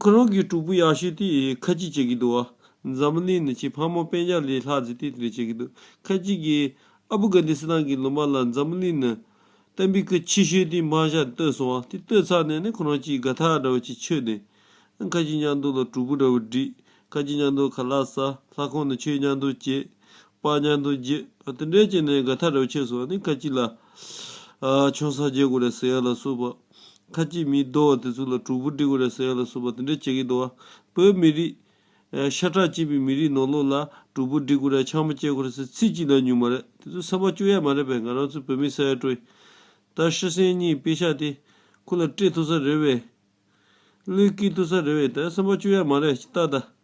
ཁོ་རང་གི་གྲོགས་པོ་ཡག་ཤོས་དེས་ཁ་ཅིག་བྱེད་ཀྱི་འདུག་འཛམ་གླིང་ནི་ཁྱེད་ཕ་མ་དཔེ་ཆ་ལས་ལྷག་ཟིག་དེ་རེད་བྱེད་ཀྱི་འདུག་ཁ་ཅིག་གིས་ཨ་བུ་གྷན་དྷི་སི་ཐན་གྱི་ལོ་མ་ལ་འཛམ་གླིང་ནི་གཏན་པའི་ཁུལ་ཆེ་ཤོས་དེའི་མ་ཞག་ཏུ་བལྟོས་སོང་བ་དེ་ལྟོས་ཚར་ནས་ནི་ཁོ་རང་གཅིག་དགའ་ཐག་འདྲ་བོ་ཅིག་ཆོད་དེ། ཁ་ཅིག་མཉམ་འདུག་ལ་གྲོགས་པོ་འདྲ་བོ་བསྒྲིགས། ཁ་ཅིག་མཉམ་འདུག་ཁ་ལག་ཟ། ལྷ་ཁང་ནས་ཆོས་མཉམ་འདུག་བྱེད། པགས་མཉམ་འདུག་བརྗེས། དེ་འདྲས་བྱས་ནས་དགའ་ཐག་འདྲ་བོ་ཆོད་སོང་བ་ནི་ཁ་ཅིག་ལ། ཆང་ས་རྒྱས་དགོས་རེད་ཟེར་ཡ་ལ་སོགས་པ། ཁ་ཅིག་མིའི་རྡོ་བ་དེ་ཚོ་ལ་དྲུག་པོ་སྒྲིག་གོ་རེ་ཟེར་ཡོད་ལ་གསུངས་པ་དེ་འདྲའི་བྱེད་ཀྱི་འདུག་བ། བོད་མི་རིགས། ཤ་ཁྲག་གཅིག་པའི་མི་རིགས་ནོར་ལོག་ལ་དྲུག་པོ་སྒྲིག་གོ་རེ་ཆང་མ་བཅད་གོ་རེ་ཟེར་ཚིག་གཅིག་ན་ཉུང་མ་རེད་དེ་ཚོ་སེམས་པ་བཅུག་ཡ་མ་རེད་པས་ང་རང་ཚོའི་བོད་མི་ས་ཡ་དྲུག་ད་ཤི་སེང་གཉིས་དཔེ་ཤག་དེ་ཁུ་ལ་སྤྲད་ཐུབ་ས་རེད་བས། བློས་སྐྱེལ་ཐུབ་ས་རེད་བས་ད་སེམས་པ་བཅུག་ཡ་མ་རེད་ཅི་ལྟ་ད།